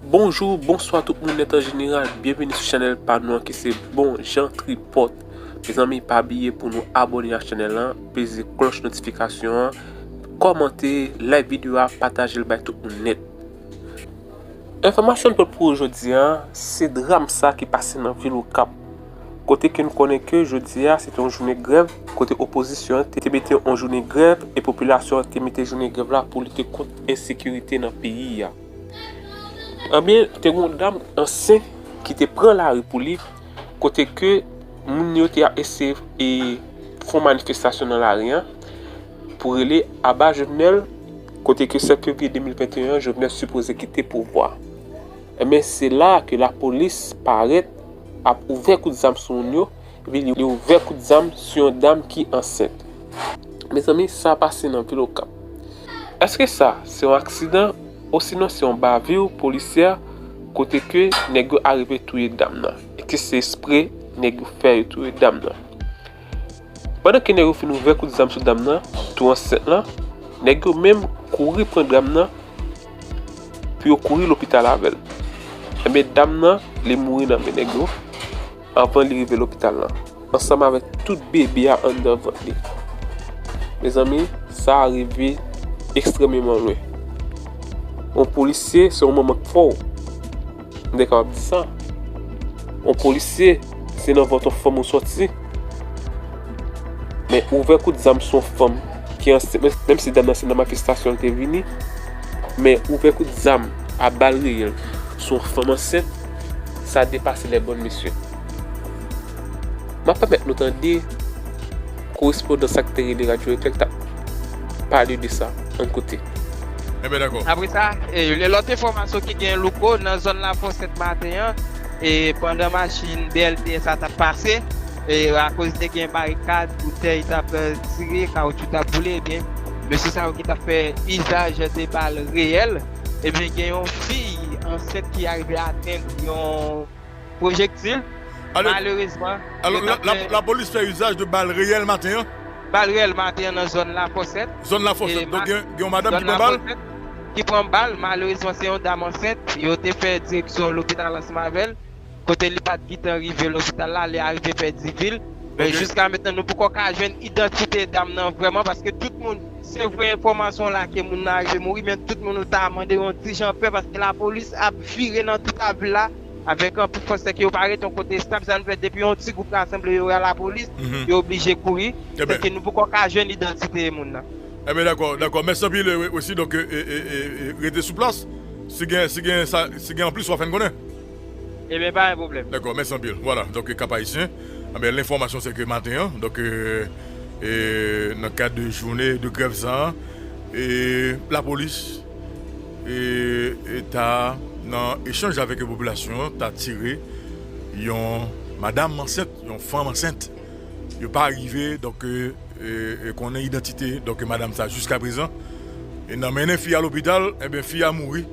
Bonjou, bonswa tout moun nèt an jeneral, byenvini sou chanèl pa nou an ki se Bon Jan Tripòt. Mezanmi pa bliye pou nou abone ak chanèl la, peze klòch notifikasyon an, kòmante, like videyo a, pataje l bay tout moun nèt. Enfòmasyon nou pòt pou ou jodi a, se dram sa ki pase nan vil okap. Kote ke n konnen ke jodi a se te yon jounen grèv, kote opozisyon an te mete yon jounen grèv e popilasyon an te mete jounen grèv la pou lite kont ensekirite nan peyi a. Anben, te gen yon dam ansyen ki te pran lari pou li, kote ke moun yo te ap eseye e fè yon manifestasyon nan lari an pou rele aba Jovenel, kote ke 7 fevriye 2021 an Jovenel sipoze kite pouvwa. Anben, se la a ke lapolis parèt. ap ouvè kout zam sou moun yo, epi li ouvè kout zam sou yon dam ki ansent. Mezanmi sa pase nan vil okap. Eske sa se yon aksidan osinon se yon bavure polisyè kote ke nèg yo arive touye dam nan? Eske se espre nèg yo fè yo touye dam nan? Pandan ke nèg yo fin ouvè kout zam sou dam nan tou ansent lan, nèg yo menm kouri pran dam nan pou yo kouri lopital avè l. Enben dam nan li mouri nan men nèg yo anvan li rive lopital lan, ansanm avèk tout bebe a anndan vant li. Mezanmi sa a rive ekstrememan lwen. Yon polisye se yon manman k fò. M te kapab di sa. On polisye, se nan vant on fanm ou soti. Men ouvè kout zam sou on fanm ki ansent, menm si dam nan se nan manifestasyon li te vini, men ouvè kout zam a bal reyèl sou on fanm ansent, sa depase lèbòn mesye. M ap pèmèt nou tande Korespondan sa ki te rele Radyo Bethel t ap pale de sa. Ann koute. Enben dakò. Apre sa, yon lòt enfòmasyon ki gen Louko nan zòn Lafosèt maten an, pandan machin BLTS la t ap pase, akoz te gen barikad, boutèy t ap tire, kawotchou t ap boule, ebyen mesye sa yo ki t ap fè izaj de bal reyèl, ebyen gen yon fi ansent ki arive atenn yon. pwojektil, malerezman, yo t ap fè. Alò, lapolis fè izaj de bal reyèl maten an? Bal reyèl maten an nan zòn Lafòsèt. Zòn Lafòsèt, donk gen yon madanm ki pran bal? Ki pran bal, malerezman se yon dam ansent, yo te fè direksyon lopital ansanm avè l, kote li pa t gitan rive lopital la, li arive Fèdivil, men jiska mentnan nou poko ka jwenn idantite dam nan vrèman paske tout moun. Se vre enfòmasyon la ke moun nan arive mouri men tout moun ou ta mande yon ti jan pè paske lapolis ap vire nan tout avil la avèk anpil fòs sèke yo pa ret yon kote estab sa nou fè depi yon ti gwoup rasanble yo wè lapolis yo oblije kouri sèke nou poko ka jwenn idantite moun nan. Enben dakò dakò mèsi anpil Wesly donk rete sou plas si gen si gen sa si gen anplis wap fè n konnen. Ebyen pa gen pwoblèm. Dako mèsi anpil vwala donk kap ayisyen anben lenfòmasyon se ke maten an donk nan kad de joune de grèv sa lapolis ta nan echanj avèk popilasyon an ta tire yon madam ansent yon fanm ansent yo pa rive donk konnen idantite donk madam sa jiska prezan nan mennen fi a lopital ebyen fi a mouri.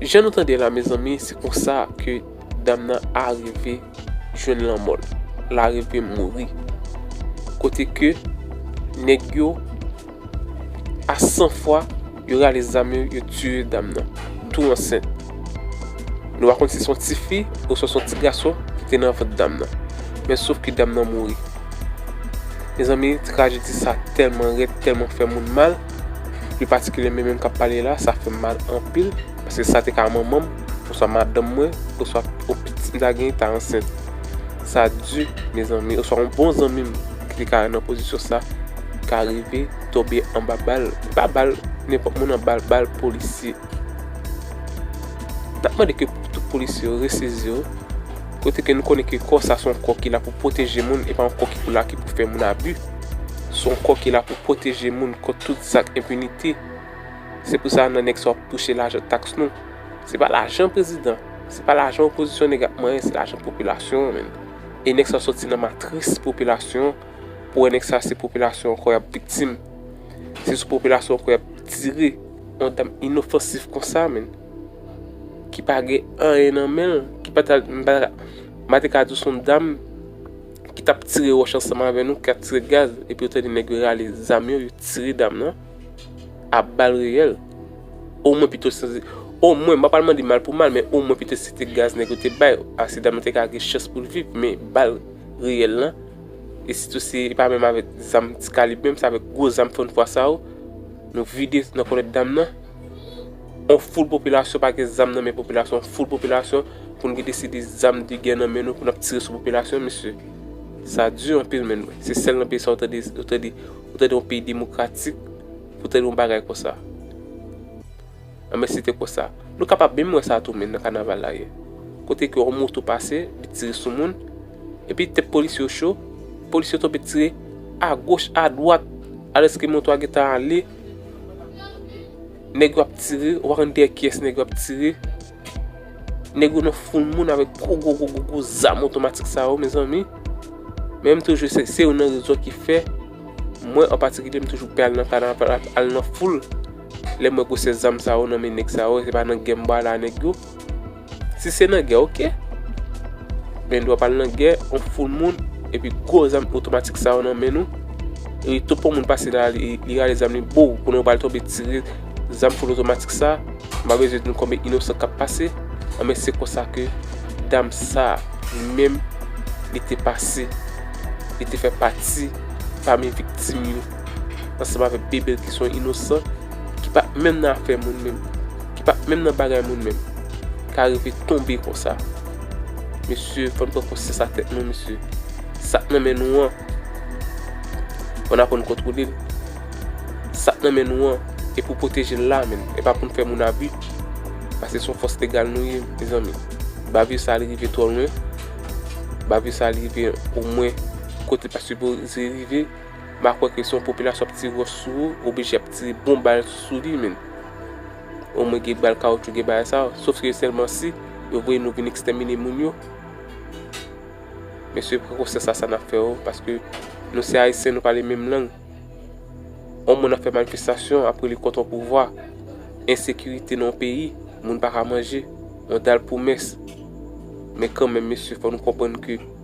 Jan nou tande la mezanmi se konsa ke dam nan arive jwenn lanmò l. L arive mouri. Kote ke nèg yo a san fwa yo rale zam yo, yo tiye dam nan. Tou ansent. Nou pa konn si se yon ti fi oswa se yon ti gason ki te nan vant dam nan. Men sof ke dam nan mouri. Mezanmi trajedi sa tèlman rèd, tèlman fè moun mal. Pi patikilyèmen menm k ap pale la, sa fè m mal anpil paske sa te ka manman m, oswa madanm mwen, oswa yon pitit m ta genyen ki ta ansent. Sa di mezanmi, oswa yon bon zanmi m ki te ka nan pozisyon sa ka rive tonbe anba bal. E pa bal nenpòt moun nan, bal polisye. N ap mande ke tout polisye yo resezi yo, kote ke nou konnen ke kò sa se yon kò ki la pou pwoteje moun, e pa yon kò ki pou la ki pou fè moun abi. Se yon kò ki la pou pwoteje moun kont tout zak enpinite. Se pou sa nan nèks wap touche lajan taks nou. Se pa lajan prezidan, se pa lajan opozisyon nèg ap manyen se lajan popilasyon an menm. E nèg sa sòti nan matris popilasyon an pou wè nèg sa se popilasyon an ankò yap viktim. Se sou popilasyon ankò yap tire. Yon dam inofansif konsa menm. Ki pa gen anyen nan menl, ki pa ta, m pa ta, m pa te ka di w se yon dam. ki tap tire wòch ansanm avè nou, ki tap tire gaz, epi yo tande nèg yo rale zam yo, yo tire dam nan, a bal reyèl, o mwen pito se, o mwen, m pa pral mande mal pou mal, men o mwen pito se te gaz nèg yo te bay, ase dam nan te ka gen chans pou l viv, men bal reyèl lan, e sitou se, e pa menm avèk zam ti kalib menm, se avèk gwo zam fòn fwa sa yo, nou vide nan kòlèt dam nan. On foul popilasyon pa gen zam nan men popilasyon on foul popilasyon pou n gen deside zam de gè nan men nou pou n ap tire sou popilasyon mesye sa di anpil menn mwen se sèl nan peyi sa ou tande ou tande ou tande yon peyi demokratik pou tande yon bagay konsa anben se te konsa nou kapab menm wè sa tou menn nan kanaval la yè kote ke yon moto pase li tire sou moun epi tèt polisye yo cho polisye yo tonbe tire a goch a dwat alèske moto a gentan ale. Nèg yo ap tire, ou pa konn dèyè kiyès nèg yo ap tire. Nèg yo nan foul moun avèk gwo gwo gwo gwo gwo zam otomatik sa yo mezanmi. Men m toujou se se youn nan rezon ki fè mwen an patikilye m toujou pè al nan kanaval ak al nan foul lè m wè gwosè zam sa yo nan men nèg sa yo se pa nan gè m bale a nèg yo. Si se nan gè ok. Men dwa pal nan gè on foul moun epi gwo zam otomatik sa yo nan men nou. Epi tout pou moun pase la li rale zam li bou konnen ou pal tonbe tire zam foul otomatik sa. M pa bezwen di nou konbe inosan kap pase. Anben se konsa ke dam sa li menm li te pase. Li te fè pati pami viktim yo. Ansanm avèk Bebel ki son inosan ki pat menm nan afè moun menm. Ki pat menm nan bagay moun menm. Ka rive tonbe konsa. Mesye fòn pran konsyans ak tèt nou mesye. Sak nan men nou an. Fòn aprann kontwolel. Sak nan men nou an. E pou pwotejel la menm. E pa poun fè moun abi. Pase son fòs legal nou ye mezanmi. Bavir sa li rive twò lwen. Bavir sa li rive omwen kote li pat sipoze rive. M pa kwè ke si yon popilasyon ap tire wòch sou ou, oblije ap tire bon bal sou li menm. Omwen gen bal kawoutchou, gen bagay sa yo. Sof ke sèlman si yo voye nou vin ekstèmine moun yo. Mesye pran konsyans a sa n ap fè yo, paske nou se Ayisyen, nou pale menm lang. On moun ap fè manifestasyon, ap rele kont on pouvwa. Ensekirite nan yon peyi, moun pa ka manje, on dal pou mès. Men kanmenm mesye, fò nou konprann ke.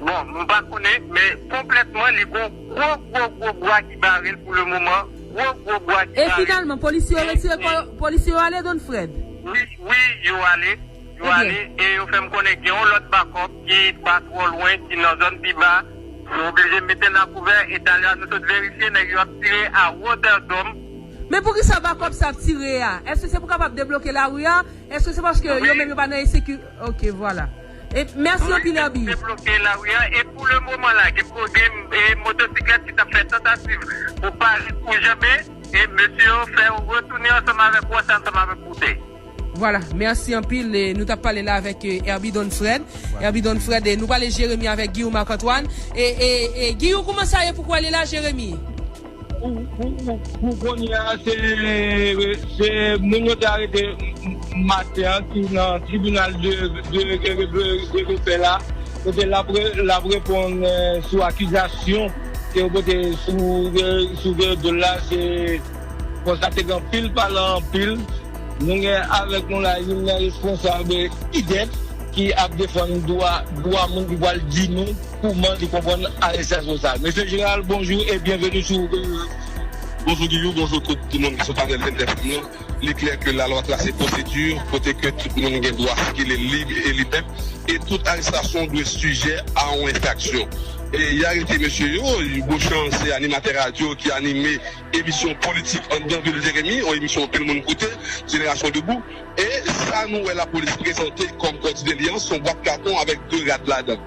Bon, mwen pa konnen, men konplètman li gon gwo gwo gwo bwa ki bare l pou le moman, gwo gwo bwa ki bare l. E finalman, polisye yo retire kò yo, polisye yo ale, Don Fred? Wi, wi, yo ale, yo ale, e yo fè m konnen gen yon lòt bakòp ki pa twò lwen, ki nan zòn pi ba, yo oblije mete n a kouvè, e talè a nou sot verifye, nèg yo ap tire a wotè dòm. Men poukisa bakòp sa ap tire a? Èske se pou kapab debloke lari a? Èske se paske yo menm yo pa nan ensekirite? Ok, vwala. Mèsi anpil Herby. Mwen menm tou m te bloke lari an e pou le moman la gen motosiklèt ki t ap fè tantativ pou pare pou janbe e mesye yo fè yo retounen ansanm avèk wòch ansanm avèk boutèy. Vwala mèsi anpil e nou t ap pale la avèk Herby Don Fred Herby Don Fred e nou pale Jérémie avèk Guillaume Marc Antoine e e e Guillou kouman sa ye pou k wè li la Jérémie? Pou kounye a, se moun yo te arete maten an ki nan tribinal de lepè la, kote l ap reponn sou akizasyon ke yo pote sou do l la. Se fwa sa te gen anpil pale anpil. Nou gen avèk nou la youn nan responsab IDEF ki ap defann dwa moun ki pral di nou. Kouman li konprann arestyasyon sa. Mesye Jeneral bonjou e byenveni sou Rooverairs. Bonjou Giyou, bonjou tout moun ki sou panèl 22 fanm lan. Li klè ke lalwa trase pwosedi kote ke tout moun gen dwa sikile lib e libè e tout arestasyon dwe sijè a yon enfraksyon. E y arete mesye yo, Beauchamp se animatè radyo ki anime emisyon politik anndan vil Jeremi, yon emisyon anpil moun koute, Génération Debout, e sa nou wè lapolis prezante kòm kòdidelyans, son bwat katon avèk 2 rad ladan.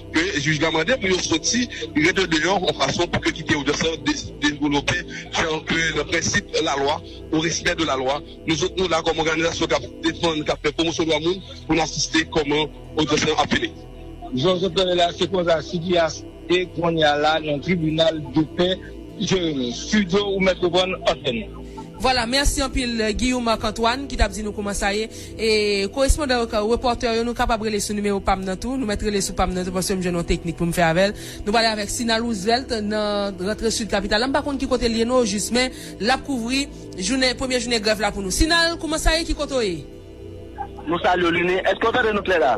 ke jij la mande pou yo soti rete deyò yon fason pou ke kite odyans lan devlope jan ke nan prensip lalwa, au respect de la loi, nou zòt nou la kòm òganizasyon kap defann, kap fè pwomosyon dwa moun pou n asiste kòman odyans lan ap fini. Jan w sot tande la, se konsa Cidias ye konnya la nan tribinal de pè Jeremi. Studio ou mèt reprann antèn. Vwala, mèsi anpil Guillaume Marc Antoine ki tap di nou kouman sa ye. E korespondan yo ka reporter yo nou kapab rele sou nimewo pam nan tou nou mèt rele sou pam nan tou paskem jwenn yon teknik poum fè avèl nou prale avèk Sina Roosevelt nan rantre sud kapital la m pa konn ki kotel ye non ojis men lap kouvri jounen premye jounen grèv la pou nou Sina kouman sa ye ki kote w ye? Nou salye w Lunie, eske w tande nou klè la?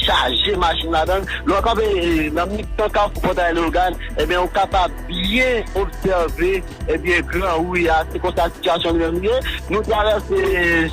chaje machin ladan l. Lè w kanpe nan mitan kafou Pòtay Leyogàn, ebyen ou kapab byen obsève ebyen gran ri a, se konsa sitiyasyon li menm ye. Nou travèse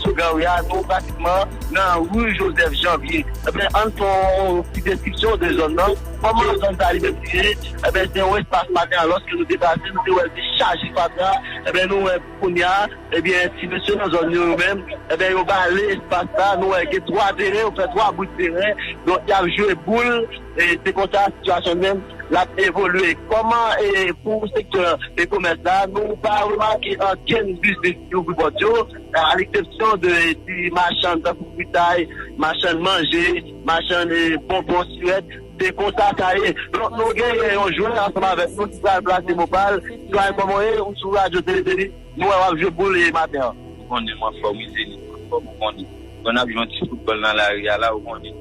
sou gran ri a, nou pratikman nan ri Joseph Janvier. Ebyen ann fè yon ti deskripsyon de zòn nan. Kòman zòn sa li menm li ye? Ebyen se yon espas maten alòske nou te pase, nou te wè l te chaje fatra, ebyen nou wè. Kounya ebyen ti mesye nan zòn yo yo menm ebyen yo bale espas la nou wè gen 3 teren yo fè 3 bout teren donk yap jwe boul e se konsa sitiyasyon menm lap evolye kòman e pou sektè e komès la nou pa remake ankenn biznis ki ouvri pòt yo a leksepsyon de ti machann tankou fritay machann manje machann e bonbon sirèt. Se konsa sa ye. Donk nou genyen yon jwè ansanm avèk nou ki pral plase mo pa l. Doyen kòman w ye? Ou sou radyo Tele Zenith. Nou wè w ap jwe boul e maten an. Ou konnen m anfòm wi Zenith m anfòm ou konnen. Bon n ap jwe yon ti foutbòl nan lari a la ou konnen.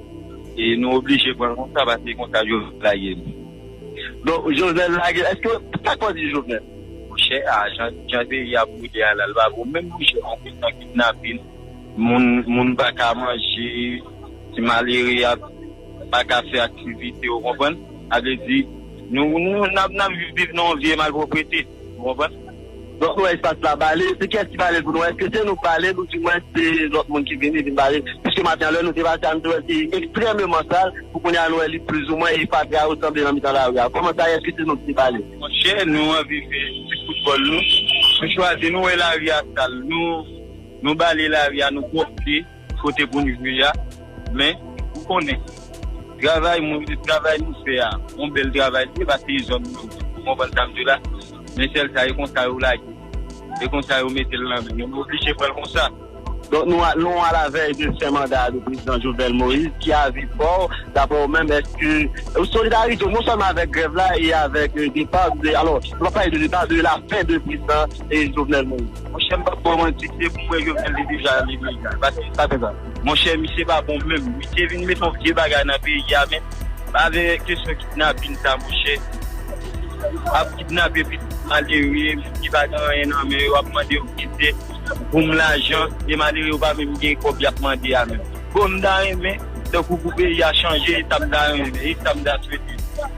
E nou oblije pran l konsa paske e konsa Jovenel lage n. Donk Jovenel lage l. Èske, sa k fè w di Jovenel? Monchè a jan peyi a ap boule a la l pa bon menm monchè. Anpil kidnapin, moun pa ka manje, ti malere ap. pa ka fè aktivite ou konprann sa m vle di nou nap viv nan yon vye malproprete ou konprann. Donk nou wè espas la bale, se kiyès ki balel pou nou, èske se nou k balel ou di mwens se lòt moun ki vini vin bale, piske maten an lè nou te pase a nou te wèl te ekstrèmeman sal pou kounya nou wè li plizoumwen e fatra yo sanble nan mitan lari a, kòman sa ye èske se nou ki te balel? Monchè nou anvi fè ti foutbòl nou, nou chwazi nou wè lari a sal nou bale lari a nou pwòpte. kote pou n jwe a men ou konnen travay mwen menm travay nou fè a yon bèl travay li ye paske se zòn nou ou konprann sa m di w la men sèl sa e konsa yo lage l e konsa yo mete l nan men nou nou oblije pran l konsa donk nou al nou alavèy de fen manda a de prezidan Jovenel Moïse ki avi pa w daprè ou menm èske ou solidarise w non sèlman avèk grèv la e avèk depa alò nou pa pale de depa de lafen de prezidan Jovenel Moïse. Monchè m pap baw manti se pou mwen jovenel te deja ale deja paske sa te va monchè misye pa bon menm li te vin met yon vye bagay nan peyi a men avè kesyon kidnapin sa monchè ap kidnape pitit malere moun ki pa gen anyen nan men yo ap mande yo ti zèt poum lajan e malere yo pa menm gen kòb yap mande a menm bon m ta renmen tankou pou peyi a chanje e sa m ta renmen e sa m ta swete.